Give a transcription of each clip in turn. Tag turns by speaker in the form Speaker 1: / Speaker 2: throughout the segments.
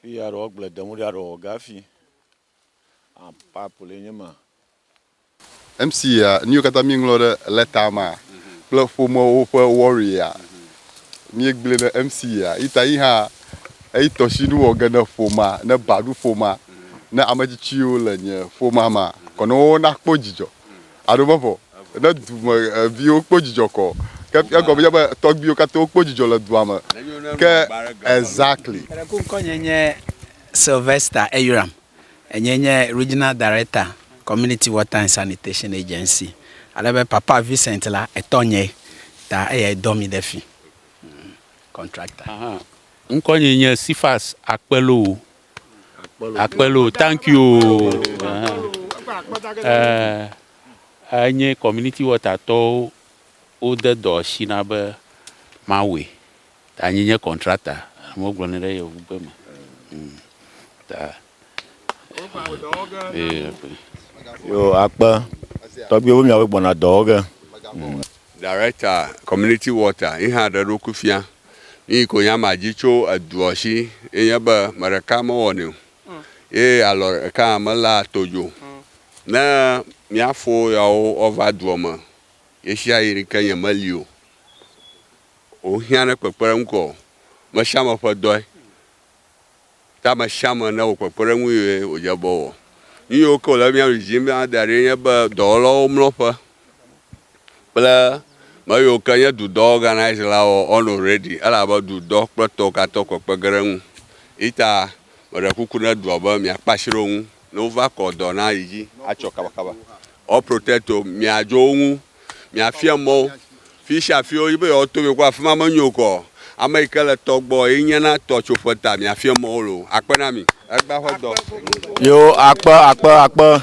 Speaker 1: Fi ya ɖewo gble dem ɖa ɖewo gafi. A pipe le nye ma.
Speaker 2: MC ya nuyiwo katã mi ŋlɔ ɖe letter ma kple ƒomewo ƒe worry ya mi gble ne MC ya yi ta yi hã eyi tɔshi nu wɔ ge ne ƒomea ne ba ɖu ƒomea ne ame tsitsiwo le nye ƒomea ma kɔ ne wo na kpɔ dzidzɔ Aɖo vavɔ ne dume viwo kpɔ dzidzɔ kɔ. Ke egɔme nye be tɔgbiwo katã wokpɔ dzidzɔ le dua me. Ke exactly. Eɖe ku ŋkɔ nye
Speaker 3: nye Sylvester Eyram. Enye nye Regional Director Community Water and Sanitation Agency. Ale be Papa Vincent la etɔ nye ta eyae dɔ mi ɖe fi. Contractor. Aha.
Speaker 4: Ŋkɔ nye nye Cephas Akpelowo. Akpelo, thank you. Eh, enye community water tɔwo wode dɔ asi na be mawɔe. Ta nyi nye contractor, amewo gblɔnɛ ɖe yevugbe me. Mm. Ta
Speaker 1: eh, Yo akpe tɔgbiwo miawo gbɔna dɔwɔ ge.
Speaker 5: Director community water yi hã ɖe eɖokui fia. Nuyi ko nya ma dzi tso eduɔ shi ye nye be me ɖeka me wɔnɛ o ye alɔ ɖeka hã me laa to dzi o. Ne mia fo yawo wɔ va duɔ me yeshiayi ni ke nye me li o o hiã ne kpekpeɖeŋu kɔ o. Meshame ƒe dɔe. Ke ame sia ame newɔ kpekpeɖeŋu yie wòdze be wòwɔ. Nu yiwo ke wòle be míaɖu dzi be míada ɖi enye be dɔwɔlawo mlɔ ƒe kple me yiwo ke nye du dɔ organise la wɔ on already elabe du dɔ kple tɔwo katã wo kpekpe ge ɖe eŋu. Eyi ta meɖe kuku ne dua be miakpe asi ɖe wo ŋu ne wova kɔ dɔ na yi dzi atsɔ kabakaba. All protecto miadzo wo ŋu miafia mɔ wo. Fi sia fi wodi be yewoato mi kpɔ afi ma menyo o kɔ. Ame yi ke le tɔ gbɔ ye nye na tɔ tso ƒe ta miafia mɔ wo loo. Akpe na mi. Egbea ƒe dɔ. Yo akpe
Speaker 1: akpe akpe akpe.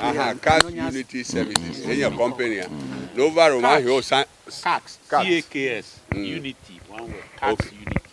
Speaker 4: Aha, Cast Unity
Speaker 5: Services. Ye nye company a. Ne wova ɖe o ma hɛn o sa. Cast.
Speaker 4: C-A-K-S. Unity. One word. Cast Unity.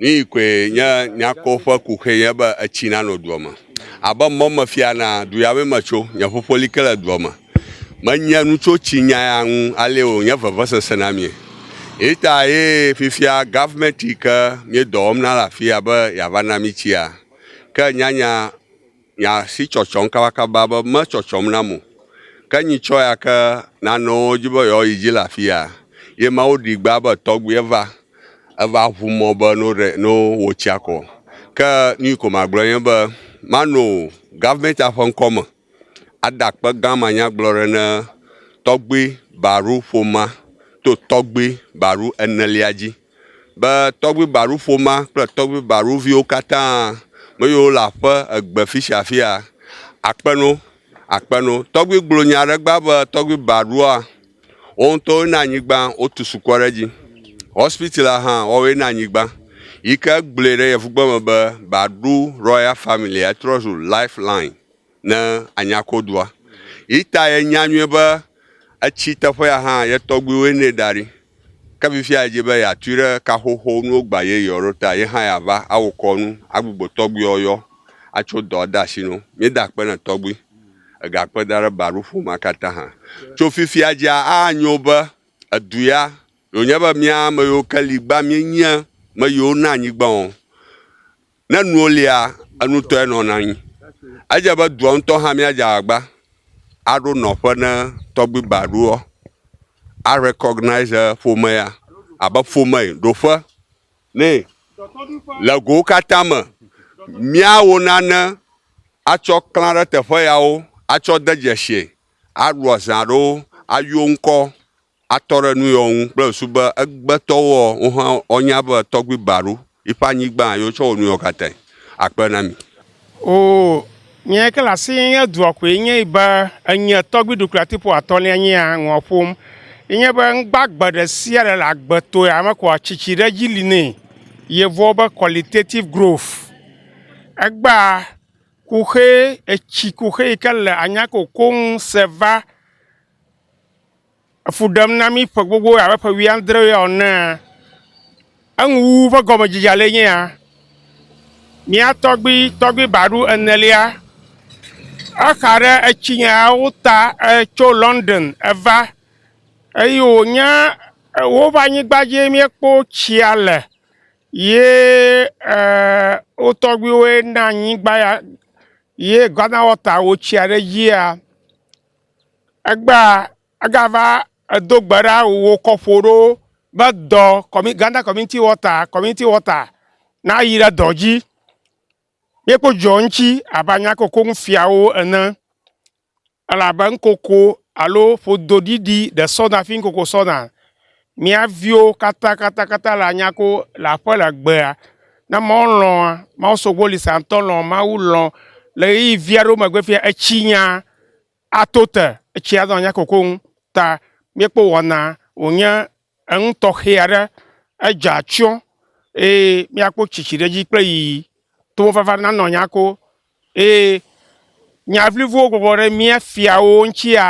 Speaker 5: Nuyi koe nye nyakɔ ƒe kuxi nye be etsi nanɔ dua me. Abe mɔ mefia na du ya me metso, nye ƒoƒo li ke le dua me. Menye nu tso tsi nya ya ŋu ale wònye vevesese na mí. Eyata ye fifia gɔvemɛti yi ke míedɔ wɔm na le afii be yeava na mí tsia. Ke nyanya. Nya si tsɔtsɔm kabakaba be metsɔtsɔm nam o. Ke nyitsɔ ya ke nanewo dzi be yewoayi dzi le afia, ye Mawu ɖi gbea be tɔgbi eva, eva ʋu mɔ be no ɖe no wo tsia kɔ. Ke nuyi ko magblɔ nye be mano government-a ƒe ŋkɔ me ada akpe gã manyagblɔ ɖe ne tɔgbi Baru ƒomea to tɔgbi Baru enelia dzi. be tɔgbui Baru ƒoma kple tɔgbui Baru viwo katã, me yiwo le aƒe egbe fisiafia, akpe no, akpe no. Tɔgbui gblɔ nya ɖe gbã be tɔgbui Barua, wo ŋutɔwoe na anyigba, wotu sukɔ ɖe dzi. Hospital la hã, woawoe na anyigba. Yi ke gblɔe ɖe yevugbe me be Baru Royal Family, etrɔ zu Life Line. ne anya ko dua. Yi ta yenya nyuie be etsi teƒea hã ye tɔgbuiwoe nɛ da ɖi. Ke fifia edzi be yeatui ɖe kaxoxo nuwo gba yeyeawo ɖo ta ye hã yeava awu kɔ nu agbugbɔ tɔgbuiawo yɔ atso dɔ ade asi na wo. Míeda akpe na tɔgbui. Ega akpe da ɖe ba ɖo ƒomea katã hã. Tso fifia dzia anyo be edu ya wònye be mía ame yiwo ke li gbã míenyea me yiwo na anyigbã o. Ne nuwo lia, enutɔe nɔna anyi. Edze be dua ŋutɔ hã míadze agbagba aɖo nɔƒe ne tɔgbui ba ɖoa, a recognise ƒomea abe ƒome yi ɖo ƒe nɛ. Le gowo katã me, míawɔ nane atsɔ klã ɖe teƒe yawo atsɔ de dzesie, aɖua zã ɖo ayɔ ŋkɔ atɔ ɖe nu yɔ ŋu kple ŋsu be egbetɔwoɔ, wohã woanya be tɔgbui Baru yiƒe anyigba ye wotsɔ wɔ nu yɔ katã. Akpe na mi. Oo,
Speaker 6: nye ke le asi nye nye dua koe nye yi be enye tɔgbui ɖukuliatiƒo atɔ̃lia nye ya ŋua ƒom. Ye nye be ŋgbagbe ɖe sia ɖe le agbe to ya me koa tsitsi ɖe edzi li nɛ. Yevuawo be qualitative growth. Egbea kuxee, etsi kuxee yi ke le anyako koŋ se va. efu ɖem na mí ƒe gbogbo abe ƒe wuiadre enea, enuwuwu ƒe gɔmedzedzea le nye ya. Mía tɔgbui tɔgbui ba ɖo enelia, exa ɖe etsi nyawo ta tso London va eye wònye woƒe anyigba dzie mía kpɔ tsia le ye eer wo tɔgbuiwoe na anyigba ya ye Ghana water wotsia ɖe dzia. Egbea egava edo gbe ɖa wòwɔ kɔƒo ɖo be dɔ kɔmi Ghana Community Water, Community Water nayi ɖe dɔ dzi. Míekpɔ dzidzɔ ŋutsi abe anya ke wòko nu fia wo ene. Elabe nukoko alo ƒodoɖiɖi ɖe sɔna fi nukoko sɔna. Mía viwo katãkatãkatã le anya ko le aƒe le agbea, ne amewo lɔ̃ mawusogbolisaŋtɔ lɔ̃ Mawu lɔ̃ le ɣeyiɣi vi aɖewo megbe fia etsi nya ato te, etsi anɔ anya kokoŋ ta míekpɔ wɔna wònye enu tɔxɛ aɖe, edze atsyɔ̃ eye míakpɔ tsitsi ɖe edzi kple yiyi to wo vava nanɔ nya ko eye nya vlivuwo bɔbɔ ɖe mía fiawo ŋutia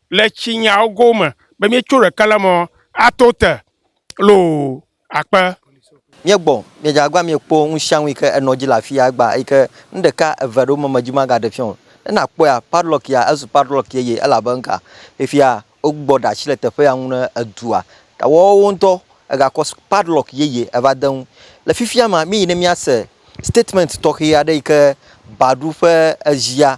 Speaker 6: le tsi nyawo go me be mí co ɖeka le mɔ a to te loo akpe. Mí gbɔ,
Speaker 7: mí dza agba mí kpɔ ŋusiaŋu yi ke enɔ dzi le afi ya agba yi ke nu ɖeka eve ɖewo me me dzi ma ga ɖe fiɔ. Ne na kpɔe a, padlock ya ezu padlock yeye elabe ŋka? Fifia wo gbɔ ɖe asi le teƒe ya ŋu ne edua ta woawo ŋutɔ ega kɔ padlock yeye eva de ŋu. Le fifia mea mí yi ne mía se statement tɔxe aɖe yi ke Badoo ƒe ezia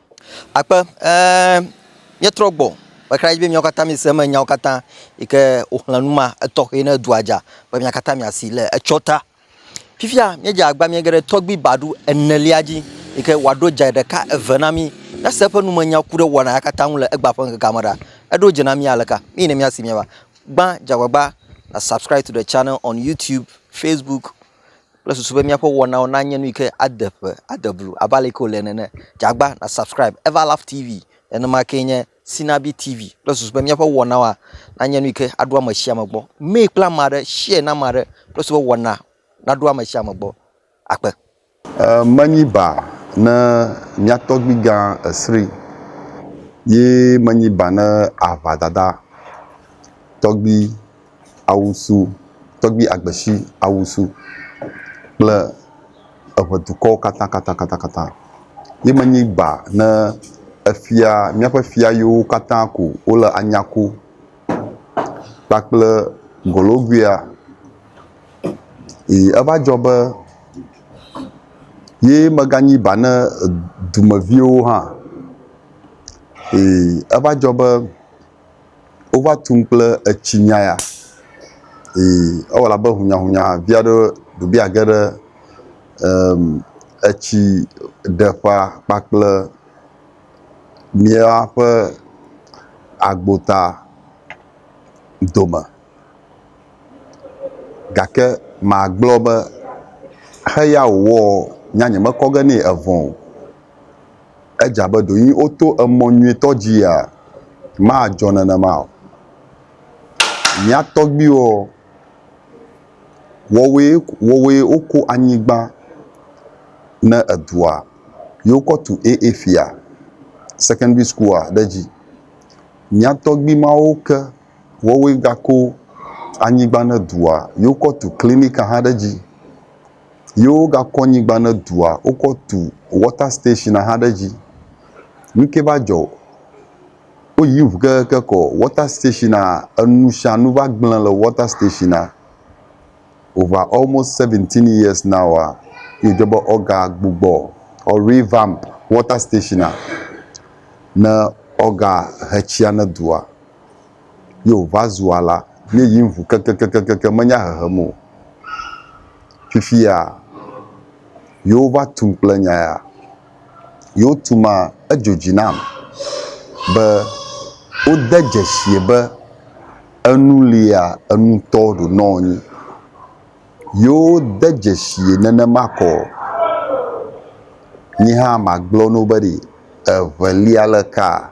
Speaker 8: Akpe, ɛɛ
Speaker 7: míetrɔ gbɔ meka ɖe edzi be míawo katã míese eme nyawo katã yi ke woxlẽ nu ma etɔxɛ yi ne dua dza be mia katã miasi le etsɔ ta. Fifia míedze agbagba míege ɖe tɔgbui baɖu enelia dzi yi ke wòaɖo dze ɖeka eve na mí. Ne ese eƒe numenya ku ɖe wɔna ya katã ŋu le egbea ƒe ŋkekea me ɖa, eɖo dze na mí aleka? Nu yi ne míasi míava. Gbã, dze agbagba na subscribe to the channel on YouTube, Facebook. kple susu be míaƒe wɔnawo nanye nu yi ke ade ƒe, ade blu abe ale ke wòle nene. Dze agba na subscribe Everlaugh TV. Nenema kee nye Sinabi TV kple susu be míaƒe wɔnawoa nanye nu yi ke aɖo ame sia ame gbɔ. Mee kple ame aɖe, share na ame aɖe kple susu be wɔna naɖo ame sia ame gbɔ. Akpe. E, menyi
Speaker 2: ba ne mia tɔgbui gã Esri, ye menyi ba ne aʋa dada tɔgbui awusu, tɔgbi agbesi awusu kple eŋe dukɔwo katã katã katã katã. Ye me nyi ba ne efia, míaƒe fia yiwo katã ko wole anya ku kpakple Golowuia. Eye eva dzɔ be ye meganyi ba ne dumeviwo hã. Eye eva dzɔ be. wova tum kple etsi nya ya eye ewɔ abe hunyahunya vi aɖe ɖo be yeage ɖe em etsi ɖeƒea kpakple míaƒe agbota dome gake magblɔ be xeya wòwɔ nyea nyemekɔ ge nɛ evɔ o. Edze abe ɖewo yi woto emɔ nyuitɔ dzia, madzɔ nenema o. Mía tɔgbuiwo, woawoe, woawoe woko anyigba ne edua ye wokɔ tu AA fia, sekɔndri sukua ɖe edzi. Mía tɔgbui mawo ke, woawoe gako anyigba ne dua ye wokɔ tu klinika hã ɖe edzi. ye wogakɔ nyigba ne dua wokɔ tu wɔta station hã ɖe edzi. Nu ke va dzɔ woyi ŋu keŋkeŋ kɔ wɔta stationea enu sia nu va gble le wɔta stationea. Over almost seventeen years now a ye wodze be wogagbugbɔ or revamp wɔta stationea ne woagahe tsia ne dua. ye wòva zu alã ye yi ŋu kekekekekekeŋ menya hehem o. Fifia yewova tum kple nya ya. Yewotumaa edzo dzi nam be wode dzesie be enu lia enu tɔ ɖo nɔ anyi. Yewode dzesie nenema kɔ nye hã magblɔ na wo be ɖe eŋe lia le kaa?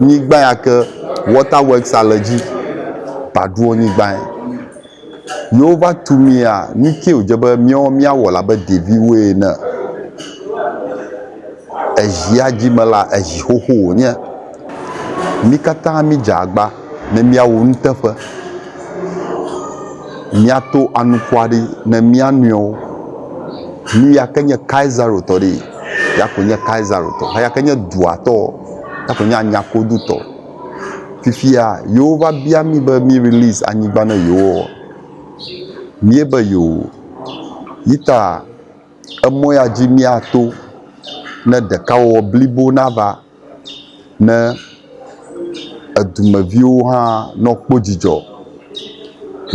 Speaker 2: Nyigba ya ke Water Works a le dzi baɖuɔ nyigbaɛ. Yi wo va tu mi a, nukɛ wodje be miɔ mia wɔ labe ɖeviwoe ene. Ejia dji me la, eji xoxo wonye. Mi kata mi dje agba ne mia wo nuteƒe. Mia to anukua ɖi ne mia nɔewo. Nu ya ke nye Kaisaro tɔ ɖee. ya koe nye Kaisaritɔ, eya ke nye dua tɔ, ya koe nye anyakodu tɔ. Fifia yewova bia mí be mí release anyigba ne yewoa, míebe yoo. Yi ta emɔ ya dzi míato ne ɖekawɔwɔ blibo nava. ne edumeviwo hã nɔ kpɔ dzidzɔ,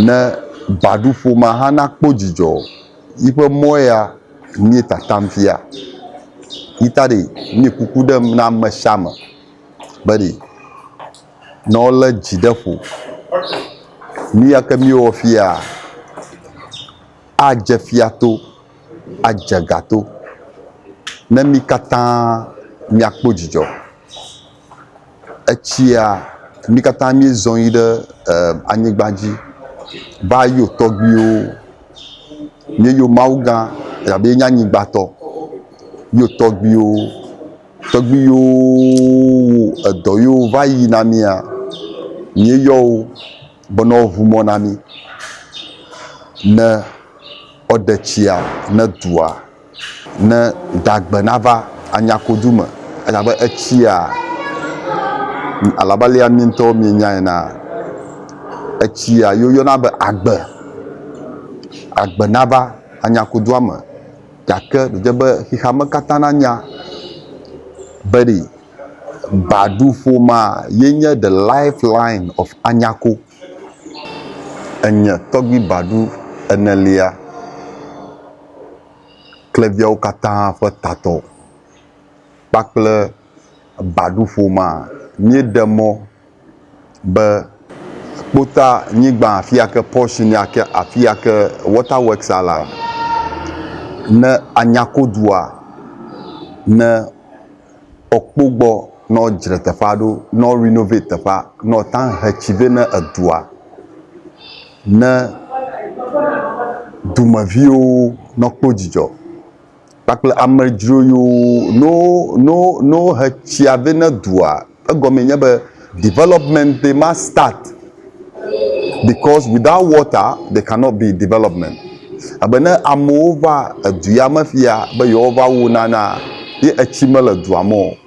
Speaker 2: ne baɖuƒo ma hã na kpɔ dzidzɔ. Yi ƒe mɔ ya mìe tatam fia. Yi ta ɖe mìe kuku ɖem na ame sia ame be ɖe ne wolé dzi ɖe ƒo. Nu ya ke mìewɔ fiaa, adze fia to, adze ga to, ne mí katã míakpɔ dzidzɔ. Etsia, mí katã míezɔ yi ɖe eh, anyigba dzi va yɔ tɔgbuiwo. Míeyɔ Mawu gã, elabe yenye anyigbatɔ. Yɔ tɔgbuiwo, tɔgbui yiwo wɔ edɔ yewo va yi na mía, míeyɔ wo. be ne woʋu mɔ na mí ne woɖe tsia ne dua ne dagbe nava anya kodu me elabe etsia alabe alea mí ŋutɔwo mienya ena etsia yi woyɔna be agbe agbe nava anya kodua me gake ɖe be xexeame katã nanya be ɖi. Badu ƒomea ye nye the life line of Anyako. Enye tɔgbi Badu enelia kple viawo katã ƒe tatɔ kpakple Badu ƒomea. Míeɖe mɔ. be kpota nyigba afia ke portion ya ke afia ke water works ya lea, ne anya ko dua, ne woakpɔ gbɔ ne woadzra teƒea ɖo, ne wo renovate teƒea, ne woate ŋu ahe tsi vɛ ne edua, ne dumeviwo nakpɔ dzidzɔ. Kpakple amedzro yiwo no no no he tsia vɛ ne dua. Egɔmee nye be development did not start because without water there cannot be development. Abe ne amewo va edu ya me fiya be yewoava wu nanaa ye etsi mele dua me o.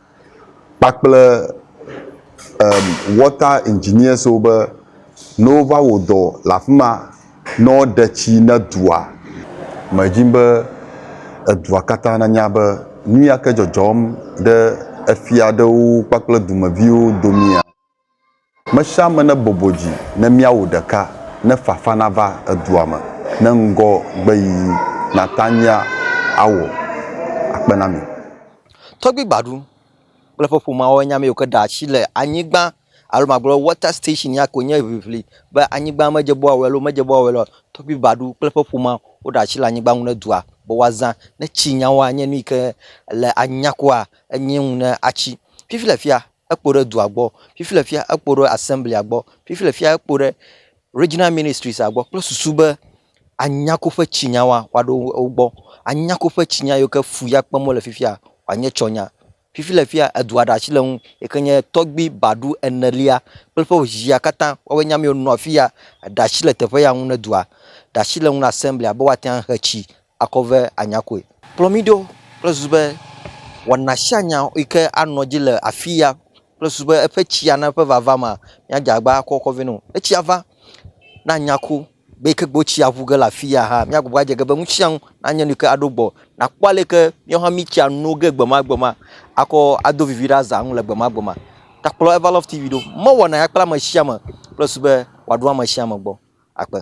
Speaker 2: kpakple em water engineers wo be ne wova wɔ dɔ le afi ma ne woɖe tsi ne dua me dzi be edua katã nanya be nu ya ke dzɔdzɔm ɖe efia aɖewo kpakple dumeviwo domea. Mesiame ne bɔbɔ dzi ne míawo ɖeka ne fafa nava edua me ne ŋgɔ gbe yiyi Natania awɔ akpe na mi.
Speaker 7: Tɔgbi Gbadu kple eƒe ƒomeawo nya meyiwo ke ɖe asi le anyigba alo magblɔ be water station ya koe nye ʋiʋli be anyigba medze bɔwɔe alo medze bɔwɔe o. Tɔgbi Gbadu kple eƒe ƒomea woɖe asi le anyigba ŋu ne dua be woazã ne tsi nyawoa nye nu yi ke le anyigna kua enye ŋu ne atsi. Fifi le fia ekpo ɖe dua gbɔ, fifi le fia ekpo ɖe assemblia gbɔ, fifi le fia ekpo ɖe regional ministries gbɔ kple susu be anya koƒe tsi nya wa woaɖo wo gbɔ, anya koƒe tsi nya yiwo ke fu ya kpem wole fifia wòanye tsɔ nya. Fifi le fia edua ɖe asi le ŋu yi ke nye tɔgbui baɖu enelia kple eƒe zia katã woawoe nye ame yiwo nɔ afi ya ɖe asi le teƒe ya ŋu ne dua ɖe asi le ŋu na assemblia be woate ŋu ahe tsi akɔ vɛ anya koe. Kplɔ mí ɖo kple susu be wɔna sia nya yi ke anɔ edzi le afia kple susu be eƒe tsia na eƒe vava mea, míadze agba akɔ akɔ vɛ na wò. Ne tsia va, ne anya ku be yi ke gbe wotsi aƒu ge le afia hã, míagbugbɔ adze ge be nu sia nu nanye nu yi ke aɖo gbɔ. Nàkpɔ ale yi ke míawo hã míetsi ano ge gbemagbe akɔ ado vivi ɖe azã nu le gbemagbe me. Ta kplɔ Everlove TV ɖo. Mɔ wɔna ya kple ame sia ame kple susu be wòaɖo ame sia ame gbɔ. Akpe.